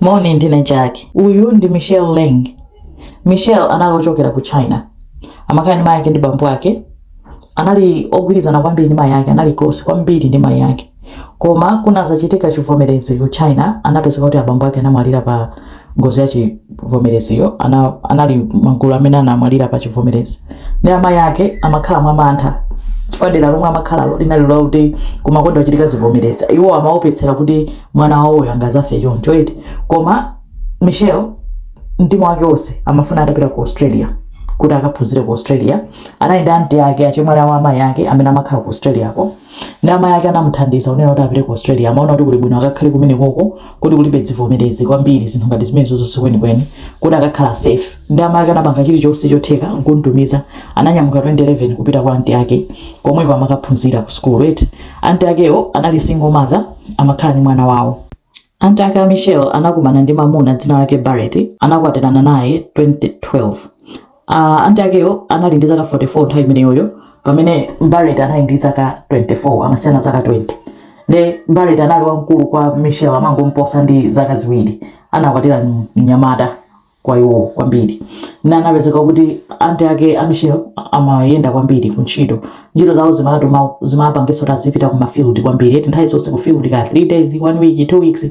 Morning, ndine Jackie. Uyu ndi Michelle Leng. Michelle anali ochokera ku China. Amakhala ndi mayi ake ndi bambo ake. Anali ogwirizana kwambiri ndi mayi ake, anali close kwambiri ndi mayi ake. Koma kunazachitika chivomerezi ku China, anapezeka kuti abambo ake anamwalira pa ngozi ya chivomereziyo, ana, anali magulu amene anamwalira pa chivomerezi. Ndi amayi ake amakhala mwa mantha chifukwa dera lomwe amakhalalo linali loti kumakonda kuchitika zivomerezi. Iwo amaopetsera kuti mwana wawoyo angazafe choncho eti koma michelle mtima wake wonse amafuna atapita ku australia kuti akaphunzire ku australia anali ndi anti ake achemwali a amayi ake amene amakhala ku australia ko ndi amayi ake anamuthandiza kunena kuti apite ku australia amaona kuti kuli bwino akakhale kumene koko kuti kulibe zivomerezi kwambiri zinthu ngati zimenezozo sikwenikweni kuti akakhala safe ndi amayi ake anapanga chilichonse chotheka nkumutumiza ananyamuka 2011 kupita kwa anti ake komweko amakaphunzira ku school eti anti akewo anali single mother amakhala ndi mwana wawo anti ake a michelle anakumana ndi mamuna dzina lake barret anakwatirana naye 2012 uh, anti akewo anali ndi zaka 44 nthawi imeneyoyo pamene barret anali ndi zaka 24 amasiyana zaka 20 ne barret anali wamkulu kwa michelle amangomposa ndi zaka ziwiri anakwatira mnyamata kwa iwo kwambiri. Nde anapezeka kuti anti ake a Michelle amayenda kwambiri ku ntchito. Ntchito zawo zimatuma zimapangitsa kuti azipita ku mafield kwambiri. Eti nthawi zonse ku field ka 3 days, 1 week, 2 weeks.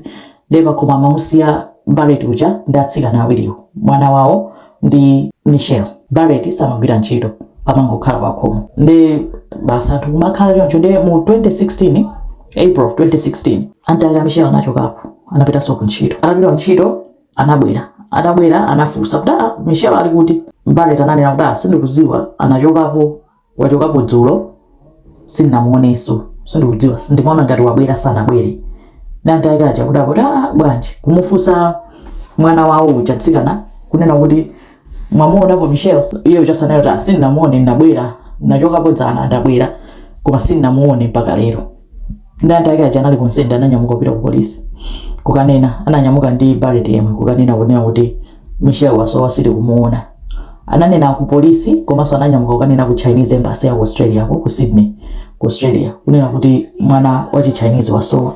Ndiye pakhomo amamusiya Barrett uja ndi atsikana awiriwo, mwana wawo ndi Michelle. Barrett samagwira ntchito, amangokhala pakhomo. Ndiye basi anthu kumakhala choncho. Ndiye mu 2016, April 2016, anti ake a Michelle anachokapo, anapitanso ku ntchito. Atapita ku ntchito. anabwera atabwera anafunsa kuti aa michelle ali kuti barret ananena kuti "Ah, sindikudziwa anachokapo wachokapo dzulo sindinamuonenso sindikudziwa ndimaona ngati wabwera sanabwere nde anti ake aja akuti aa bwanji kumufunsa mwana wawo uja mtsikana kunena kuti mwamuonapo michelle iye ujaso anena kuti "Ah, sindinamuone ndinabwera ndinachokapo dzana ndabwera koma sindinamuone mpaka lero ndi anti ake aja anali concerned ananyamuka kupita ku polisi kukanena ananyamuka ndi barret yemwe kukanena kunena kuti michelle wasowa sitikumuona ananena ku polisi komanso ananyamuka kukanena ku chinese embassy ya ku australia ko ku sydney ku australia kunena kuti mwana wa chichinese wasowa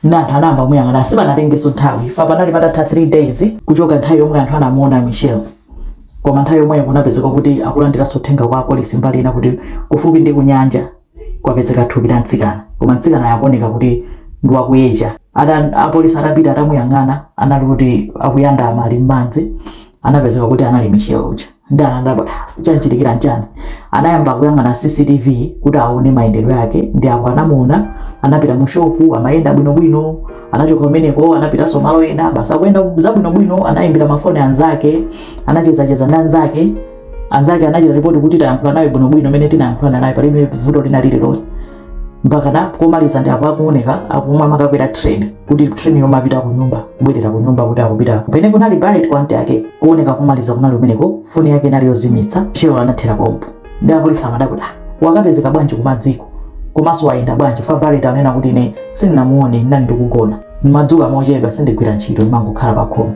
Nde anthu anayamba kumuyang'ana sipanatengeso nthawi chifukwa panali patatha 3 days kuchoka nthawi yomwe anthu anamuona Michelle koma nthawi yomweyo kunapezeka kuti akulandiraso uthenga kwa apolisi mbali ina kuti kufupi ndi kunyanja kwapezeka thupi la mtsikana koma mtsikanayo akuoneka kuti ndi wa ku Asia ata apolisi atapita atamuyang'ana anali kuti akuyandama ali m'madzi anapezeka kuti anali Michelle uja. Ndiye anadabwa kuti, Ha, chamuchitikira n'chani? Anayamba kuyang'ana CCTV kuti aone mayendedwe ake. Ndiye apo anamuona, anapita mushopu, amayenda bwinobwino. Anachoka kumeneko anapitanso malo ena, basi akuyenda zabwinobwino. Anaimbira mafoni anzake, anachezacheza ndi anzake. Anzake anachita ripoti kuti, Tayankhula naye bwinobwino mmene tinayankhulana naye, palibe vuto lina lililonse. mpakana kumaliza ndi apo akuoneka akumakakwera train kuti train yomapita kunyumba kubwerera kunyumba kuti akupita kumene kunali Barret kwa anti ake kuoneka komaliza kunali kumeneko foni yake inali yozimitsa Michelle anathera pompo ndi apolisi amadabwa kuti wakapezeka bwanji kumadziku komanso wayenda bwanji chifukwa Barret anena kuti ine sindinamuone ndinali ndikugona ndimadzuka mochedwa sindigwira ntchito ndimangokhala pakhomo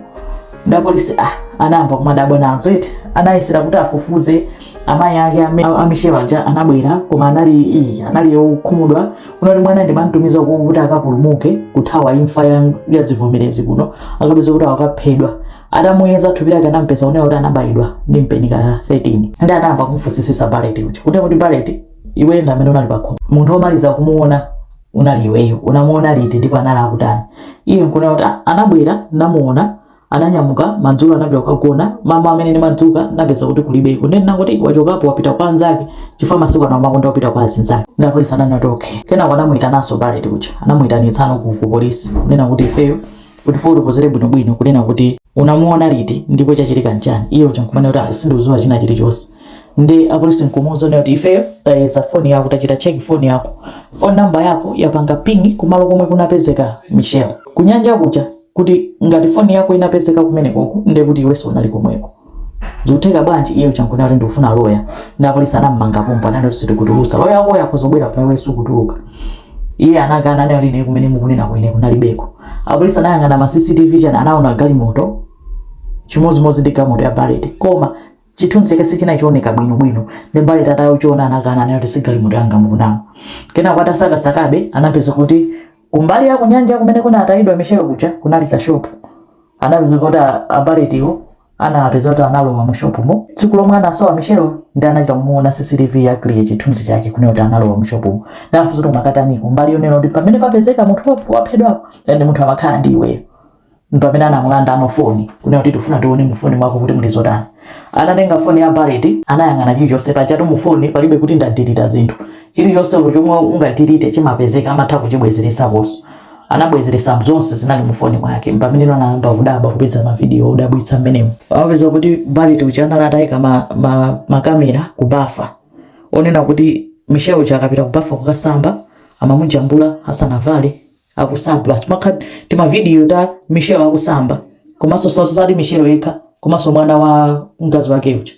ndi apolisi ah anayamba kumadabwa nazo eti anayesera kuti afufuze amayi ake ame- a- a Michelle aja anabwera koma anali iyi anali okhumudwa kunena kuti mwana ndimamtumiza uko kuti akapulumuke kuthawa imfa ya- ya zivomerezi kuno nkukapeza kuti akaphedwa atamuyeza thupi lake anampeza kunena kuti anabayidwa ndi mpeni ka 13 ndi anayamba kumfunsisisa Barret kuti kunena kuti Barret iwe ndi amene unali pakhomo munthu womaliza kumuona unali iweyo unamuona liti ndipo anali akutani iye nkunena kuti "Ah, anabwera namuona Ananyamuka madzulo anapita kukagona, mamawa mmene ndimadzuka napeza kuti kulibeko nde ndinangoti wachokapo wapita kwa anzake chifukwa masiku ano amakonda kupita kwa azinzake nde apolisi ananena kuti ok. Kenako anamuitananso Barret uja anamuitanitsano ku ku polisi kunena kuti ifeyo utifotokozere bwinobwino kunena kuti unamuona liti ndipo chachitika nchani, iye uja nkumanena kuti ayi sindikudziwa china chilichonse nde apolisi nkumuuza kunena kuti ifeyo tayeza phone yako tachita check phone yako phone number yako yapanga ping kumalo komwe kunapezeka Michelle kunyanja kuja. kuti ngati foni yako inapezeka kumenekoko ndiye kuti iwenso unali komweko zikutheka bwanji iye uja nkunena kuti ndikufuna loya ndi apolisi anammanga pompo ananena kuti sitikutulutsa loya wakoyo akhoza kubwera koma iweyo sukutuluka iye anakana anena kuti ine kumene mukunena ine kunalibeko apolisi anayang'ana ma cctv chani anaona galimoto chimodzimodzi ndi galimoto ya Barret koma chithunzi chake sichinali chooneka bwinobwino ndi Barret atachiona anakana anena kuti si galimoto yanga mukunama kenako atasakasakabe anapeza kuti Kumbali ya kunyanja kumene kunatayidwa Michelle kuja kunali kashopu. Anapeza kuti a, a Barrett-wo anawapeza kuti analowa mu shopumo. Tsiku lomwe anasowa Michelle ndi anachita kumuona CCTV ya clear chithunzi chake kunena kuti analowa mu shopumo. Nde anamfunsa kuti munkakataniko mbali yonena kuti pamene papezeka munthu wap- waphedwapo ndi munthu amakhala ndi iweyo. mpamene anamulandano foni kunena kuti tifuna tione mufoni mwako kuti muli zotani anatenga foni ya Barret anayang'ana chilichonse pajatu mufoni palibe kuti ndadilita zinthu chilichonse olo chomwe ungadilite chimapezeka amatha kuchibwezeresakonso anabwezeresa zonse zinali mufoni mwake mpameneno anayamba kudabwa kupeza mavidiyo odabwitsa mmenemo amapeza kuti Barret uja anali ataika ma, ma, makamera kubafa onena kuti Michelle uja akapita kubafa kukasamba amamujambula asanavale akusamba timavidiyo ta michelle akusamba komanso sa- sati michelle yekha komanso mwana wa mkazi wake uja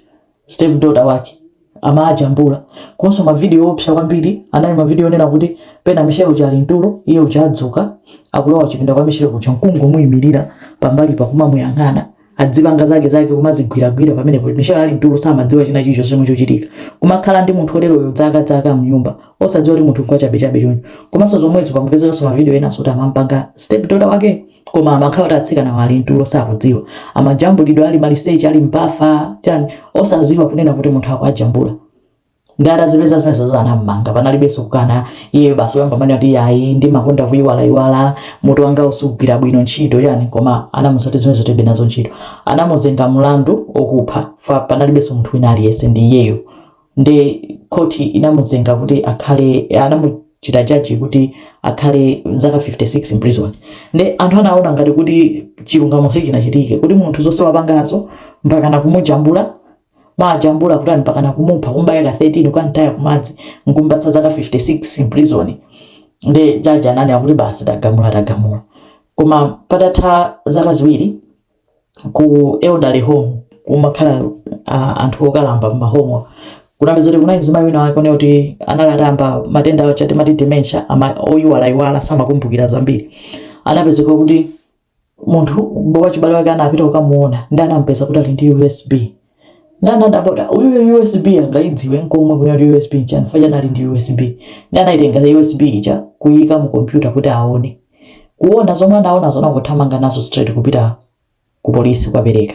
step daughter wake amajambula komanso mavidiyo opsa kwambiri anali mavidiyo onena kuti pena michelle uja ali mtulo iye uja adzuka akulowa chipinda kwa michelle kuja nkungomuyimirira pambalipa kumamuyang'ana adzipanga zake zake kumazigwiragwira pamenepo michelle ali mtulo samadziwa china chilichonse chomwe chochitika kumakhala ndi munthu oteroyo zaka zaka mnyumba osadziwa kuti munthu nkwachabechabe choncho komanso zomwezo panapezekanso mavidiyo enanso kuti amampanga step daughter wake koma amakhala kuti atsikanawo ali mtulo sakudziwa amajambulidwa ali maliseche ali m'bafa chani osadziwa kunena kuti munthu akuwajambula Nde atazipeza zimenezozo anam'manga panalibenso kukana iyeyo basi kuyamba kumanena kuti ayi ndimakonda kuyiwalayiwala mutu wangawu sugwira bwino ntchito chani koma anamuza kuti zimenezo tilibe nazo ntchito anamuzenga mulandu okupha chifwa panalibenso munthu wina aliyense ndi iyeyo nde khoti inamuzenga kuti akhale anamuchita judge kuti akhale zaka 56 mprison nde anthu anawona ngati kuti chilungamo sichinachitike kuti munthu zonse wapangazo mpakana kumujambula kumajambula kutani mpakana kumupha kumubaya ka 13 kukamtaya kumadzi nkumupatsa zaka 56 in prison nde jaji ananena kuti basi tagamula tagamula koma patatha zaka ziwiri ku elderly home kumakhala uh, anthu okalamba m'mahomo kunapezeka kuti kunali mzimayi wina wake onena kuti anali atayamba matenda awo aja timati dementia aja oyiwalayiwala samakumbukira zambiri anapezeka kuti munthu b- wachibale wake anapita kukamuona ndi anampeza kuti ali ndi usb ndi anadabwa kuti uyu usb angaidziwe nkomwe kunena kuti usb nchani chifwa anali ndi usb ndi anaitenga usb ija kuyika mu kompyuta kuti aone kuona zomwe anaonazo anangothamanga nazo straight kupita ku polisi kukapereka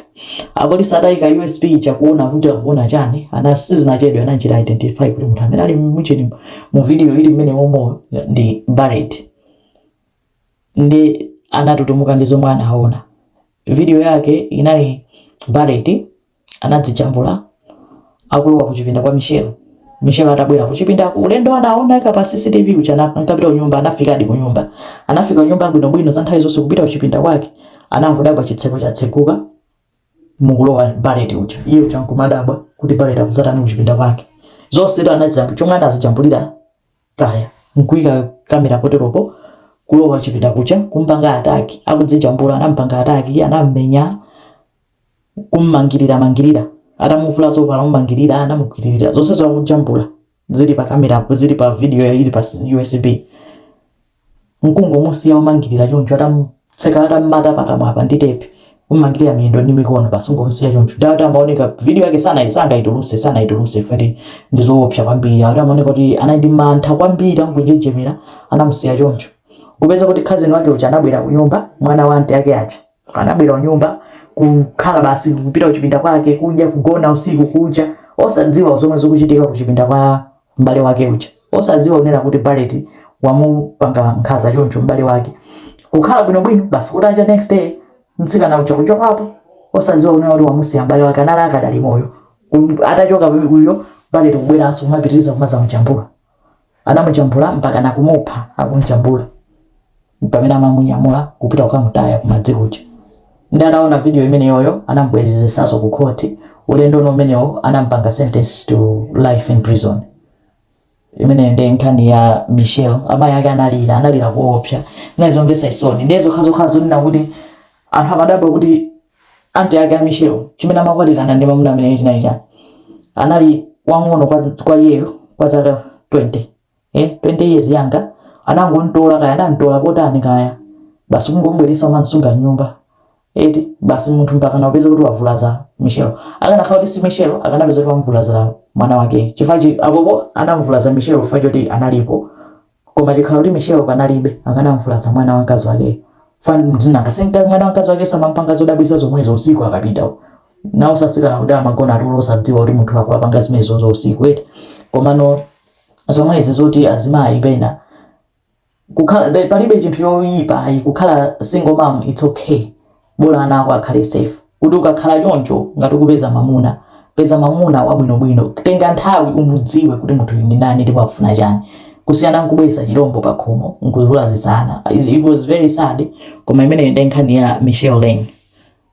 apolisi atayika usb ija kuona kuti akuona chani ana sizinachedwe anachita identify kuti munthu amene ali muchani mu video ili mmenemomo ndi barret ndi anatutumuka ndi zomwe anaona. Video yake inali Barrett anadzijambula akulowa kuchipinda kwa Michelle. Michelle atabwera kuchipinda ulendo anaoneka pa CCTV uja ankapita kunyumba anafikadi kunyumba. Anafika kunyumba bwino bwino za nthawi zonse kupita kuchipinda kwake anangodabwa chitseko chatseguka mukulowa Barrett uja. Iye uja nkumadabwa kuti Barrett akuzatani kuchipinda kwake. Zonsezo anazijambula chomwe anazijambulira kaya nkuika camera poteropo kulowa chipinda kuja kumpanga attack akudzijambula anampanga attack anammenya kummangirira mangirira atamuvula zovala kumangirira anamugwiririra zonsezo akujambula zili pa camera zili pa video ili pa USB nkungomusiya ommangilira choncho atamtseka atammata pakamwa apa ndi tepi kummangilira miyendo ndi mikono basi nkungomusiya choncho ndiye akuti amaoneka video yake sana sangaituluse sanaituluse fans akuti ndi zoopsa kwambiri akuti amaoneka kuti anali ndi mantha kwambiri akunjenjemera anamusiya choncho kupeza kuti cousin wake uja anabwera kunyumba mwana wa aunt ake aja anabwera kunyumba kukhala basi kupita kuchipinda kwake kudya kugona usiku kuja osadziwa zomwe zikuchitika kuchipinda kwa m'bale wake uja osaziwa kunena kuti Barret wamupanga nkhaza choncho m'bale wake kukhala bwinobwino basi kutacha next day mtsikana uja kuchokapo osaziwa kunena kuti wamusiya m'bale wake anali akadali moyo Ku- atachoka uyo Barret kubweranso kumapitiriza kumazamujambula anamujambula mpaka nakumupha akumujambula mpamene amamunyamula kupita kukamutaya kumadzi kuja nde ataona video imeneyoyo anamubwelezesaso ku court ulendo uno umenewo anamupanga sentence to life in prison imeneyo nde nkhani ya Michelle amayi ake analira analira koopsa zinali zomvesa chisoni nde zokhazokha zonena kuti anthu amadabwa kuti aunt ake a Michelle chimene amakwatilana ndi mamuna ameneyo chinali chani anali wang'ono kwa iyeyo kwa zaka 20. eh 20 years younger anangontola kaya anantola potani kaya basi kungomubweresa kumamsunga mnyumba eti basi munthu mpakana kupeza kuti wavulaza michelle akanakhala kuti si michelle akanapeza kuti wamuvulazira mwana wake chifukwa chi- apopo anamuvulaza michelle chifukwa choti analipo koma chikhala kuti michelle panalibe akanamuvulaza mwana wa mkazi wakeyo fans mwina nanga sikuti mwana wa mkazi wakeso amampanga zodabwisa zomwezo usiku akapita nawo sasikana kuti amagona atulo osadziwa kuti munthu akukapanga zimenezozo usiku eti komano zomwezi zoti azimayi pena kukhala the- palibe chinthu choyipa ayi kukhala single mom its okay bola ana ako akhale safe kuti ukakhala choncho ngati ukupeza mamuna peza mamuna wabwinobwino tenga nthawi umudziwe kuti munthu uyu ndi ndani ndipo akufuna chani kusiyana nkubweretsa chilombo pa khomo nkuzivulazitsa ana Is- it was very sad koma imeneyo ndi nkhani ya michelle lane